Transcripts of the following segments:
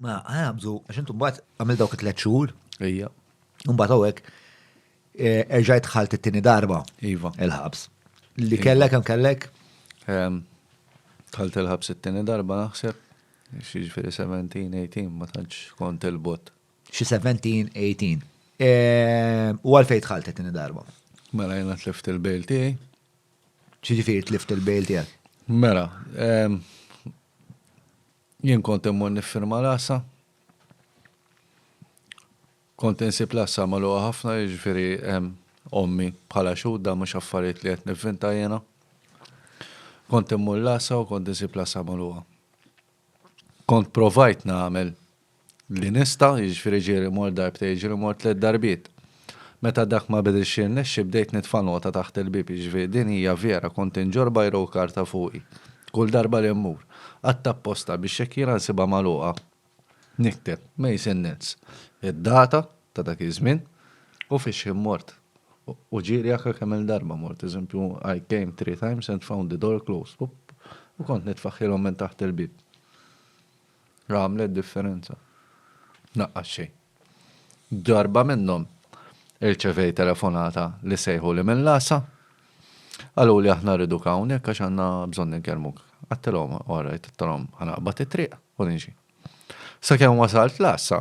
Ma għabżu, għax intu mbagħad għamil dawk it-tliet xhur. Ejja. Mbagħad hawnhekk eh, erġajt ħalt it-tieni darba. Iva. Il-ħabs. Li kellek hemm kellek? Ehm, Tħalt il-ħabs it-tieni darba naħseb. Xiġifieri 17, 18, ma tantx kont il-bot. Xi 17, 18. Eh, U għalfejn tħalt it-tieni darba. Mela jena tlift il-bejl tiegħi. Xiġifieri tlift il-bejl tiegħek. Mela, ehm, Jien kont immur niffirma l-għassa. Kont insib l-għassa magħluqa ħafna, jiġifieri hemm ommi bħala xhud dan mhux affarijiet li qed nivvinta jiena. Kont immur l-għassa u kont insib l-għassa magħluqa. Kont provajt nagħmel li nista', jiġifieri ġieli mort darbtejn, ġieli mort tliet darbiet. Meta dak ma bidilx jirnexxi bdejt nitfa' nota taħt il-bieb, jiġifieri din hija vera kont inġorr bajra u karta fuqi. Kull darba li mmur. Għadd apposta biex jekk jiena nsibha magħluqa nikteb Mason Nets, id-data ta' dak iż-żmien u fix-x'ħin mort. U ġieli anke kemm-il darba mort, eżempju I came three times and found the door closed u kont nitfaħħilhom minn taħt il-bieb. Għamlet differenza. Naqqas xejn. Darba minnhom irċevej telefonata li sejħu li minn l-għassa. Qalu li aħna rridu hawnhekk għax għandna bżonn ninkellmuk. Għattilhom, all right, għattilhom ħanaqbad it-triq u nimxi. Sakemm wasalt l-għassa,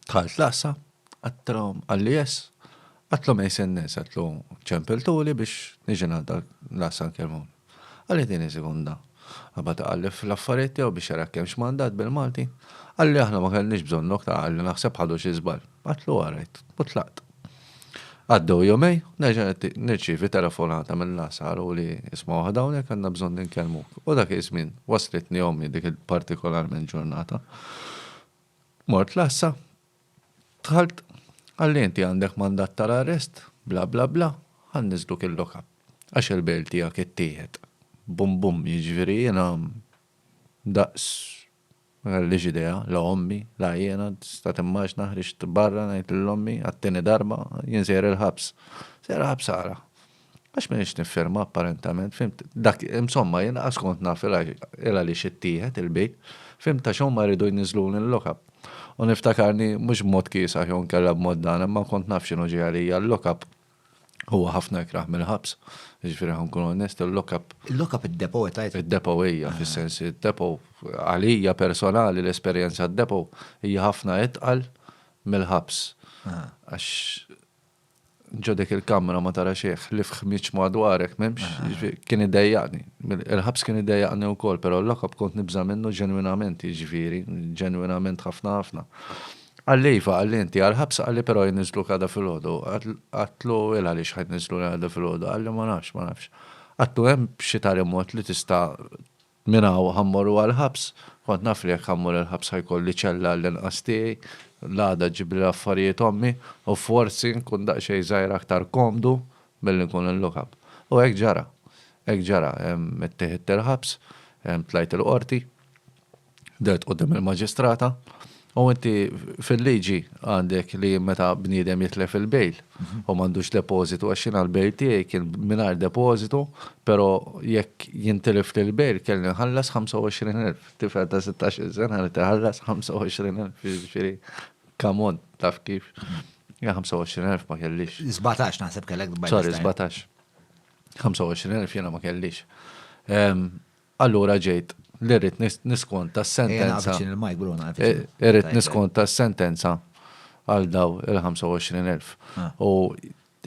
Dħalt l-għassa, qattalhom għall-IS, qatlhom ejn se n-nies, qatlu ċempiltuli biex niġi ngħadda l-għassa nkellmhom. Qalli tieni sekonda. Qabad iqallef l-affarijiet tiegħu biex jara kemm x'mandat bil-Malti. Qalli aħna ma kellniex bżonnok ta' qalli naħseb ħadu xi żball. Qatlu all right u tlaqt. Għaddew jumejn, nerġa' nirċievi telefonata mill-għassa qaluli isma' waħda hawnhekk għandna bżonn inkellmuk. U dak iż-żmien waslitni ommi dik il-partikolarment ġurnata. Mort l-għassa, dħalt, qalli inti għandek mandat tal-arrest, bla bla bla, ħa nniżżluk il-lock up għax il-bail tiegħek ittieħed. Bum bum, jiġifieri jiena daqs ma kellix idea, la ommi, la jiena, tista' timmaġna ħriġt barra ngħid lil ommi għat-tieni darba, jien sejjer il-ħabs. Sejjer il-ħabs għala? Għax m'iniex niffirma apparentament, fhimt? Dak, insomma, jien qas kont naf il-għaliex ittieħed il-big, fhimt, għax huma jridu jniżżluni l-lock-up. U niftakarni, mhux b'mod kiesaħ jew inkella b'mod dan, imma ma kont naf x'inhu ġej għalija, l-lock-up huwa ħafna ikrah mill-ħabs, jiġifieri ħa nkun onest, il-lock-up. Il-lock-up id-depo qed tgħid? Id-depo hija, fis-sens, id-depo, għalija personali l-esperjenza d-depo hija ħafna itqal mill-ħabs. Għax Ġo dik il-kamra ma tara xejn ħlief ħmieġ madwarek m'hemmx, jiġifieri kien iddejjaqni. Il-ħabs kien iddejjaqni wkoll, però l-lock-up kont nibża' minnu ġenwinament, jiġifieri, ġenwinament ħafna ħafna. Qalli iva, qalli inti għall-ħabs, qalli però jniżżluk għada filgħodu. Għedtlu il għaliex ħa jniżżluni għada filgħodu, qalli ma nafx, ma nafx. Għedtu hemm xi tali mod li tista' Minn hawn ħa mmorru għall-ħabs. Kont naf li jekk ħa mmur il-ħabs ħa jkolli ċella għall-inqas tiegħi, l-għada ġġiblilha l-affarijiet ommi, u forsi nkun daqsxejn żgħir aktar komdu milli nkun il-lock-up. U hekk ġara. Hekk ġara. Itteħidt il-ħabs, tlajt il-Qorti, dehrt quddiem il-Maġistrata, U inti fil-liġi għandek li meta bniedem jitlef il-bejl u m'għandux depożitu għax jiena l-bejl tiegħi kien mingħajr depożitu, però jekk jintilef li l-bejl kelli nħallas 25,000. Tifel ta' sittax-il sena irid iħallas 25,000, jiġifieri come on, taf kif. Jien 25,000 ma kellix. Sbatax naħseb kellek by this time. Sorry, sbatax. 25,000 jiena ma kellix. Allura ġejt li rrid niskonta s-sentenza, irrid niskonta s-sentenza għal dawn il-25,000. U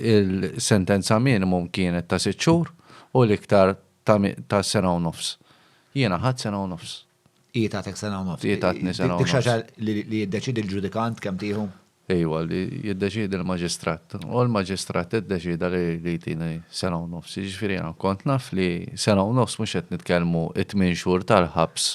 l-sentenza minimum kienet ta' sitt xhur u l-iktar ta' sena u nofs. Jiena ħadt sena u nofs. Hi tattek sena u nofs. Hi tatni sena u nofs. Dik xi ħaġa li jiddeċiedi l-ġudikant kemm tieħu? Iva, li jiddeċiedi l-Maġistrat. U l-Maġistrat iddeċieda li jtini sena u nofs. Jiġifieri jiena kont naf li sena u nofs mhux qed nitkellmu t-tmien xhur tal-ħabs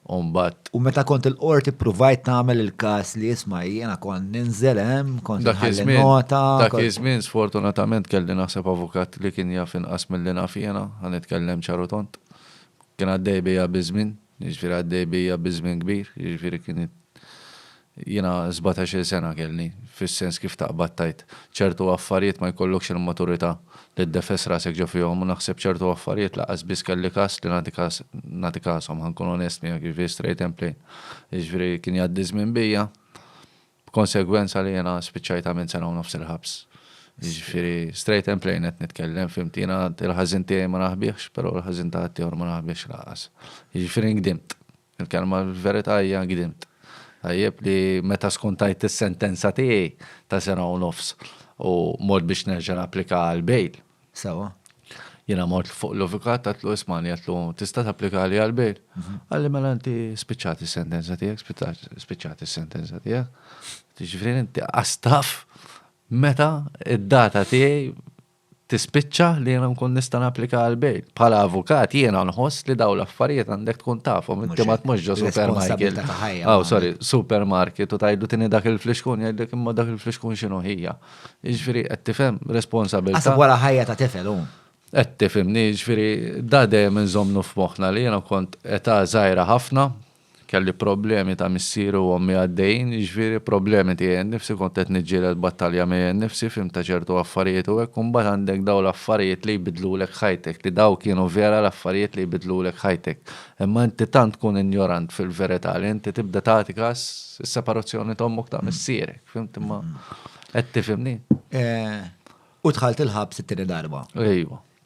u mbagħad. U meta kont il-Qorti ppruvajt tagħmel il-każ li isma' jiena kont ninżel hemm, kont inħalli nota. Dak iż-żmien sfortunatament kelli naħseb avukat li kien jaf inqas milli naf jiena, ħa nitkellem ċar u tond. Kien għaddej bija biż-żmien, jiġifieri għaddej bija biż-żmien kbir, jiġifieri kien Jiena sbatax-il sena kellni, fis-sens kif taqbad tgħid ċertu affarijiet ma jkollokx il-maturità li ddefes rasek ġo fihom u naħseb ċertu affarijiet lanqas biss kelli kas li nagħti kas nagħti kashom ħa nkun onest miegħek jiġifieri straight and plain. Jiġifieri kien jgħaddi ż-żmien bija b'konsegwenza li jiena spiċċajt għamilt sena u nofs il-ħabs. Jiġifieri straight and plain qed nitkellem fhimt jiena il-ħażin tiegħi ma naħbihx però l-ħażin ta' ħaddieħor ma naħbihx lanqas. Jiġifieri ngdimt. Il-kelma l-verità hija gdimt. Tajjeb li meta skontajt is-sentenza tiegħi ta' sena u nofs u mort biex nerġa' napplika għal bail. Sewwa. Jiena mort fuq l-avukat għatlu ismani għatlu tista' tapplikali għal bail. Qalli mela inti spiċċat is-sentenza tiegħek, spiċċat is-sentenza tiegħek. Jiġifieri inti qastaf meta id-data tiegħi tispiċċa li jiena nkun nista' napplika għal bail. Bħala avukat jiena nħoss li dawn l-affarijiet għandek tkun tafhom, inti ma tmux ġo supermarket. Oh, sorry, supermarket u tajdu tini dak il-flixkun jgħidlek imma dak il-flixkun x'inhu ħija. Jiġifieri qed tifhem responsabilità. Għasab wara ħajja ta' tifel hu. Qed tifhimni, jiġifieri da dejjem inżomnu f'moħħna li jiena kont età żgħira ħafna Kelli problemi ta' missieri u ommi għaddejjin, jiġifieri problemi tiegħi nnifsi, kont qed niġġieled battalja miegħi nnifsi, fhimt ta' ċertu affarijiet u hekk u mbagħad għandek dawn l-affarijiet li jbiddlulek ħajtek, li dawn kienu vera l-affarijiet li jbiddlulek ħajtek. Imma inti tant tkun injorant fil-verità li inti tibda tagħti kas is-separazzjoni ta' ommok ta' missierek, fhimt imma qed tifhimni? U dħalt il-ħabs it-tieni darba. Ejwa.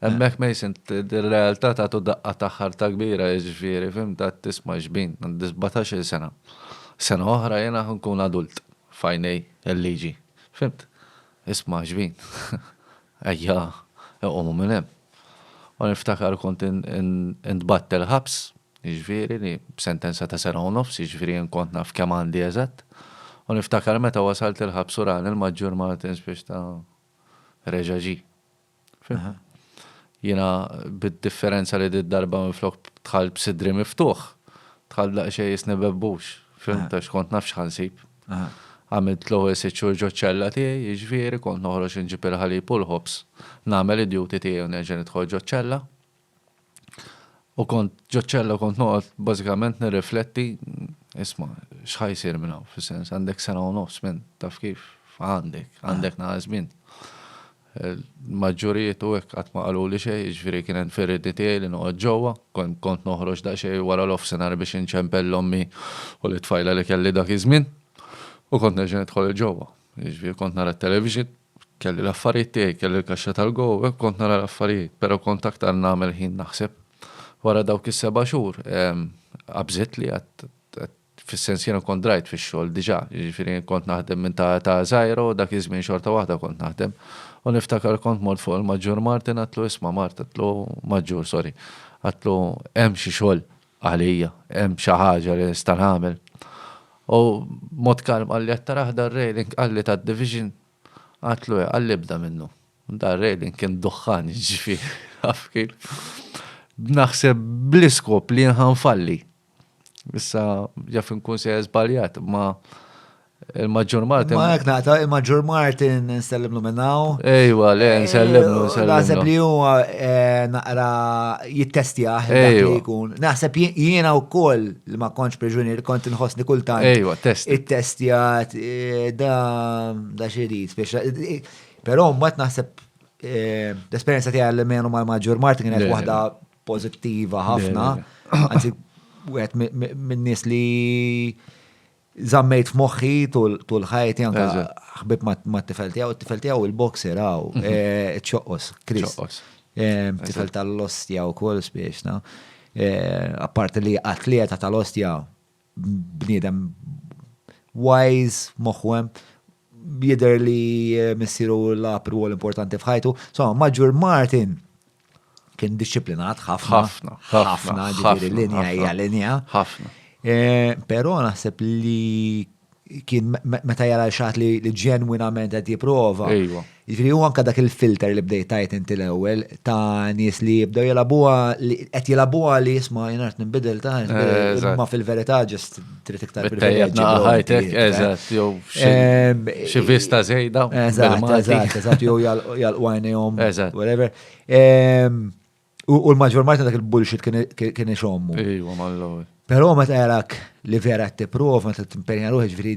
Hemmhekk Mason ir-realtà tagħtu daqqa ta' ħarta kbira jiġifieri fhimt għad tisma' xbin għandi sbatax-il sena. Sena oħra jiena ħa nkun adult f'għajnej il-liġi. Fhimt? Isma' xbin. Ejja iqumu minn hemm. U niftakar kont intbagħat il-ħabs, jiġifieri li b'sentenza ta' sena u nofs, jiġifieri jien kont naf kemm għandi eżatt. U niftakar meta wasalt il-ħabs u rani l-Maġġur Martins biex ta' reġa' ġie. Jiena bid-differenza li di darba minflok dħalt b'sidri miftuħ, dħalt daqsxejn jisni bebbux, fimt għax kont naf x'ħansib. Għamilt l-ewwel sitt xhur ġoċ-ċella tiegħi, jiġifieri kont noħroġ inġib il-ħalib u l-ħobż, nagħmel id-duty tiegħi u nerġa' nidħol ġoċ-ċella. U kont ġoċċella u kont noqgħod bażikament nirrifletti isma' x'ħaj jsir minn hawn fis-sens għandek sena u nofs minn taf kif għandek, għandek naħa żmien. Maġġurijiet u hekk qatt ma qalu li xejn, jiġifieri kien hemm firridi tiegħi li noqgħod ġewwa, kont noħroġ daqsxejn wara l-offsinar biex inċempel l-ommi u lit-tfajla li kelli dak iż-żmien u kont nerġa' nidħol il-ġewwa. Jiġifieri kont nara t-television, Kelli l-affarijiet tiegħi, kelli l-kaxxa tal-go, hekk kont nara l-affarijiet, però kont aktar nagħmel ħin naħseb. Wara dawk is-seba' xhur, qabżiet li għad, għad, fis-sens jiena kont drajt fix-xogħol diġà, jiġifieri kont naħdem minn ta' età żgħira u dak iż-żmien xorta waħda kont naħdem. U niftakar kont mort fuq il-Maġġur Martin għadtlu isma' Mart, għadtlu, Maġġur, sorry, għadtlu hemm xi xogħol. Għalija, hemm xi ħaġa li nista' nagħmel? U b'mod kalm qalli, Qed tarah dan railing? Qalli, Tad-division? Għidtlu, Eh. Qalli, Ibda minnu. Dan railing kien duħħan, jiġifieri, taf kif. B'naħseb bl-iskop li jien ħa nfalli. Issa, jaf inkun sejjer żbaljat, imma Il-Maġġur Martin. Ma jek naqta, il-Maġġur Martin nsellimlu minnaw. Ejwa, le, eh, nsellimlu, nsellimlu. Naħseb li huwa eh, naqra jittestja li jkun. Naħseb jiena u koll li ma konċ preġunier kont nħosni kultant. Ejwa, test. Ittestjat, eh, da, da xerit, pero mbagħad naħseb l-esperienza tiegħi li menu mal-Maġġur Martin kienet waħda pozittiva ħafna. Għanzi, għet minn nis li Zammejt f'moħħi tul ħajti anka ħbib mat-tifel tiegħu, t-tifel tiegħu il-boxer għaw, mhm. eh, ċoqqos, Chris. Eh, tifel tal-ostja u kol spiexna. Eh, apparti li atleta tal-ostja bniedem wise, moħwem, jider li missiru l-apru importanti fħajtu. So, maġur Martin, kien disciplinat ħafna. Ħafna. Ħafna, ġifiri linja hija linja. Ħafna. Eh, Pero naħseb li kien meta jara xaħat li ġenwinament qed jipprova. Ġifiri huwa anka dak il-filter li bdejt tajt inti l-ewwel ta' nies li jibdew jilabuha li qed jilabuha li jisma' jien qed nbidel ta' ma fil-verità ġest trid iktar privileġġi. Tejjeb ħajtek, eżatt, jew xi vista żejda. Eżatt, eżatt, eżatt, jew jal-għajnejhom, whatever. U l-maġġor marta dak il-bullshit kien ixommu. Ejwa, mal-lowel. Però meta jarak li vera t-tipprova, meta t-impenja ruħi ġviri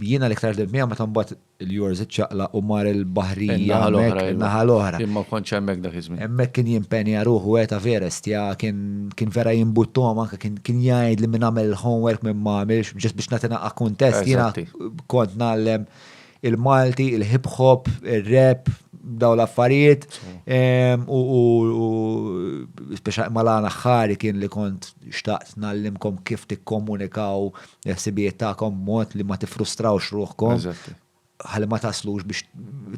jiena l-iktar d-dmija, meta mbagħad Il-Yours iċċaqlaq u mar il-baħrija hemmhekk in-naħa l-oħra. Jien ma kontx hemmhekk dak iż-żmien. Hemmhekk kien jimpenja ruħu għedt Everest ja kien kien vera jimbuttuhom anke kien kien jgħidli min għamel il-homework min ma għamilx just biex nagħti naqqa' kuntest jiena kont ngħallem il-Malti, il-hip hop, ir-rap, dawn l-affarijiet u speċjal mal-għan aħħari kien li kont xtaqt ngħallimkom kif tikkomunikaw il-ħsibijiet tagħkom b'mod li ma tiffrustrawx ruħkom. Eżatti. Ħalli ma taslux biex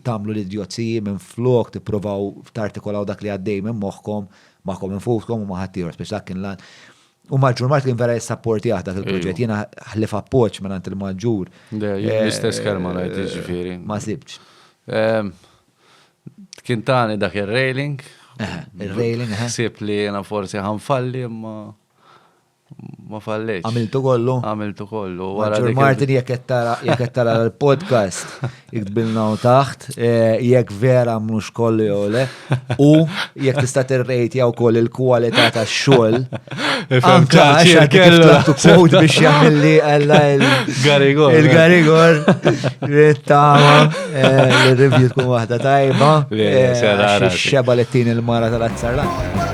tagħmlu l-idjozziji minflok tippruvaw tartikolaw dak li għaddej minn moħħkom magħkom infuskom u ma' ħaddieħor speċi dak kien lan. U Maġġur Mart kien vera jissapportjah dak il-proġett. Ejju. Jiena ħlif appoġġ minn għand il-Maġġur. Le, jien Eh, l-istess kelma ngħid jiġifieri. Ma sibtx. Ehm, Kien tani dak ir-railing. Eħe, ir-railing, eħe. Ħsieb li jiena forsi ħanfalli imma Ma falleċ. Għamiltu kollu? Għamiltu kollu. Għara Martin jek jettara l-podcast, iktbilna u taħt, e, jek vera mux kollu jew le, u jek tista t-rejt jaw koll il-kualita ta' xol. Anka għaxa kellu kod biex jgħamilli għalla il-garigor. Il-garigor. Rittama. Eh, l-review tkun waħda tajba. Eh, xeba li t-tini l-mara tal-azzarla.